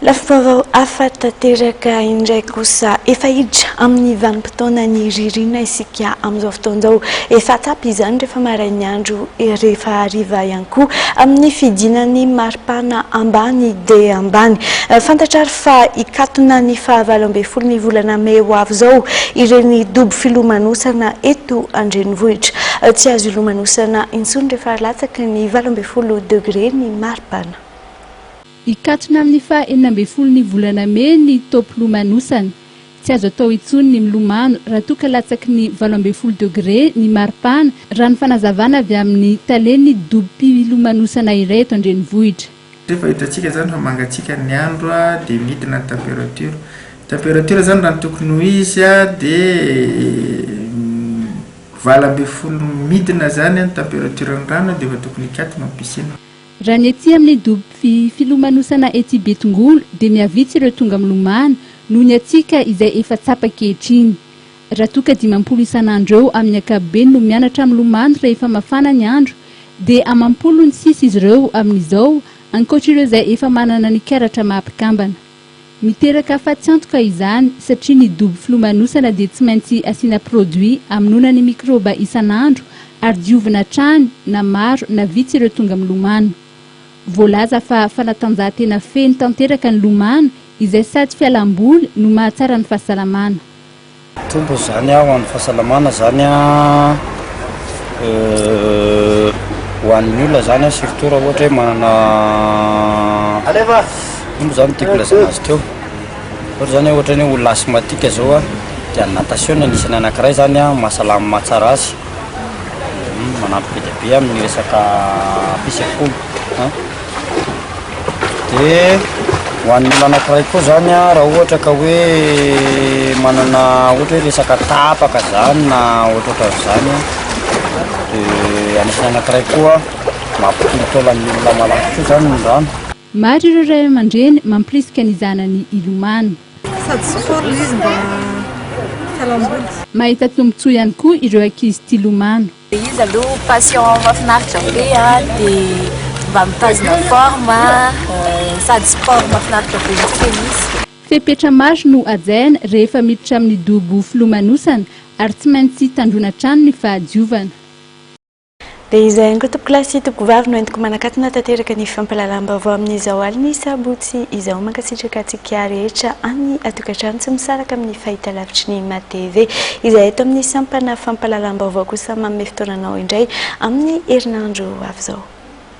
Lafim-baovao hafa tanteraka indray kosa. Efa hiditra amin'ny vanim-potoanan'ny ririnina isika amin'izao fotoana izao. Efa tsapa izany rehefa marain'ny andro, rehefa hariva ihany koa amin'ny fidinan'ny maripana ambany dia ambany. Fantatra ary fa hikatona ny fahavalo ambin'ny folon'ny volana mey ho avy izao ireny dobo filomanosana eto an-drenivohitra. Tsy azo ilomanosana intsony rehefa latsaka ny valo ambin'ny folo. folo degre ny maripana. Hikatona amin'ny faha enina ambin'ny folo ny volana mey ny taom-pilomanosana. Tsy azo atao intsony ny milomano raha toa ka latsaky ny valo ambin'ny folo degre ny maripana, raha ny fanazavana avy amin'ny talen'ny dobim-pilomanosana iray eto an-drenivohitra. Efa hitantsika izany fa mangatsiaka ny andro dia midina ny température. Ny température izany raha ny tokony ho izy dia. Valo ambin'ny folo midina zany an temperature ny rano dia efa tokony hikatona ny piscine. Raha ny ety amin'ny dobo fi, filomanosana ety Betongolo dia mihavitsy ireo tonga milomano noho ny hatsiaka izay efa tsapa ankehitriny. Raha toa ka dimampolo isan'andro eo amin'ny ankapobeny no mianatra milomano rehefa mafana ny andro dia amampolo ny sisa izy ireo amin'izao ankoatr'ireo izay efa manana ny karatra maha mpikambana. Miteraka fatsiantoka izany satria ny dobo filomanosana dia tsy maintsy asiana produit amonoana ny mikrôba isan'andro ary diovina hatrany na maro na vitsy ireo tonga milomano. Voalaza fa fanatanjahantena feno tanteraka ny lomano izay sady fialam-boly no mahatsara ny fahasalamana. Mitombo izany ho an'ny fahasalamana izany ho an'ny olona izany surtout raha ohatra hoe manana ino izany ny tiako hilazana azy teo? ohatra izany hoe ohatra ny hoe olona asthmatique izao dia ny natation no anisany anakiray izany mahasalama mahatsara azy. manampy be dia be amin'ny resaka fisafoana a dia ho an'ny olona anankiray koa zany a raha ohatra ka hoe manana ohatra hoe resaka tapaka zany na ohatratra zany a dia anisany anankiray koa mampitolo taolan'ny olona malaky koa zany ny rano Maro ireo ray aman-dreny mampirisika ny zanany hilomano. Sady tsy foana izy mba fialamboly. Mahita tombotsoa ihany koa ireo ankizy tia lomano. Izy aloha passion mahafinaritra be dia mba mitazona forme, sady sport mahafinaritra be koa izy. Fepetra maro no hajaina rehefa miditra amin'ny dobo filomanosana ary tsy maintsy tandroina hatrany ny fahadiovana. Dia izay ihany koa tompokolahy sy tompokovavy no entiko manakatona tanteraka ny fampahalalam-baovao amin'izao alin'ny sabotsy izao. Mankasitraka antsika rehetra any an-tokantrano sy misaraka amin'ny fahitalavitry ny MATV izay eto amin'ny sampana fampahalalam-baovao kosa manome fotoananao indray amin'ny herinandro ho avy izao.